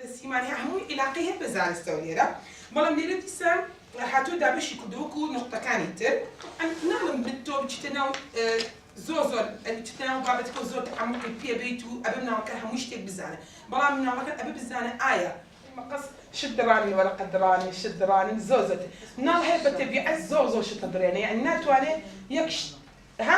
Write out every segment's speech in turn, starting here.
دەتە سیمان یا هەمووی ئیلاقەی هەر بە زانستەوە لێرە بەڵام لێرە دیسان هاتووە دابەشی کردووە وەکوو نوقتەکانی تر تەبعەن ناڵێم من تۆ بچیتە ناو زۆر زۆر ئەبی بچیتە ناو بابەتەکە و زۆر تەعەموقی پێ بێیت و ئەبێ مناڵەکە هەموو شتێک بزانێ بەڵام مناڵەکە ئەبێ بزانێ ئایا مەقەس شت دڕانن وەرەقە دڕانن شت دڕانن زۆر زۆر تر مناڵ هەیە بە تەبیعەت زۆر زۆر شت ئەدڕێنێ یانی ناتوانێ یەک شت ها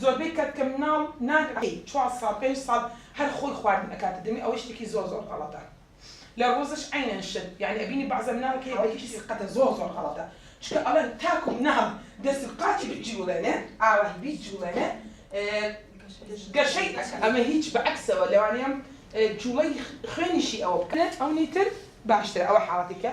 زۆربەی کات کە مناڵ نان ئەکەی چوار ساڵ پێنج ساڵ هەر خۆی خواردن ئەکاتە دەمی ئەوەی شتێکی زۆر زۆر غەڵەتە لە ڕۆزش عەینەن شت یانی ئەبینی بەعزا مناڵ کە یەکێتی سقەتە زۆر زۆر غەڵەتە چونکە ئەڵێن تاکو مناڵ دەست و قاچی بجوڵێنێ ئاوەهی بیجوڵێنێ گەشەی ئەکا ئەمە هیچ بە عەکسەوە لەوانەیە جوڵەی خوێنیشی ئەوە بکا ئەونی تر باشترە ئەوە حاڵەتێکە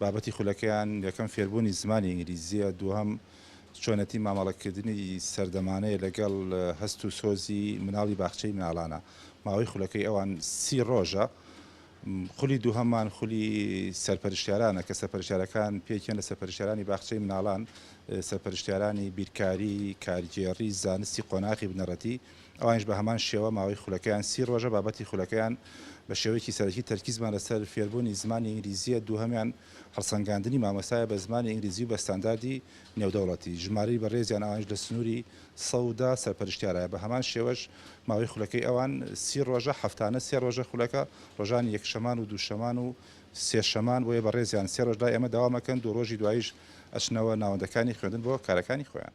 بابەتی خولەکەیان یەکەم فێربوونی زمانی ئینگلیزییە، دووهەم چۆنێتی مامەڵەکردنی سەردەمانەیە لەگەڵ هەست و سۆزی مناڵی باخچەی مناڵانە. ماوەی خولەکەی ئەوان سی ڕۆژە. خولی دووهەممان خولی سەرپەرشتیارانە کە سەرپەرشتیارەکان پێکیان لە سەرپەرشتیارانی باخچەی مناڵان، سەرپەرشتیارانی بیرکاری، کارگێڕی، زانستی قۆناغی بنەڕەتی، ئەوانیش بە هەمان شێوە ماوەی خولەکەیان سی ڕۆژە، بابەتی خولەکەیان بە شێوەیەکی سەرەکی تەرکیزمان لەسەر فێربوونی زمانی ئینگلیزییە، دووهەمیان هەڵسەنگاندنی مامۆستایە بە زمانی ئینگلیزی و بە ستانداردی نێودەوڵەتی، ژمارەی بەڕێزیان ئەوانیش لە سنووری سەد و دە سەرپەرشتیارایە، بە هەمان شێوەش ماوەی خولەکەی ئەوان سی ڕۆژە، هەفتانە سێ ڕۆژە خولەکە، ڕۆژانی یەکشەمان و دووشەمان و سێشەمان، بۆیە بەڕێزیان سێ ڕۆژ لای ئێمە دەوام ئەکەن، دوو ڕۆژی دواییش ئەچنەوە ناوەندەکانی خوێندن بۆ کارەکانی خۆیان.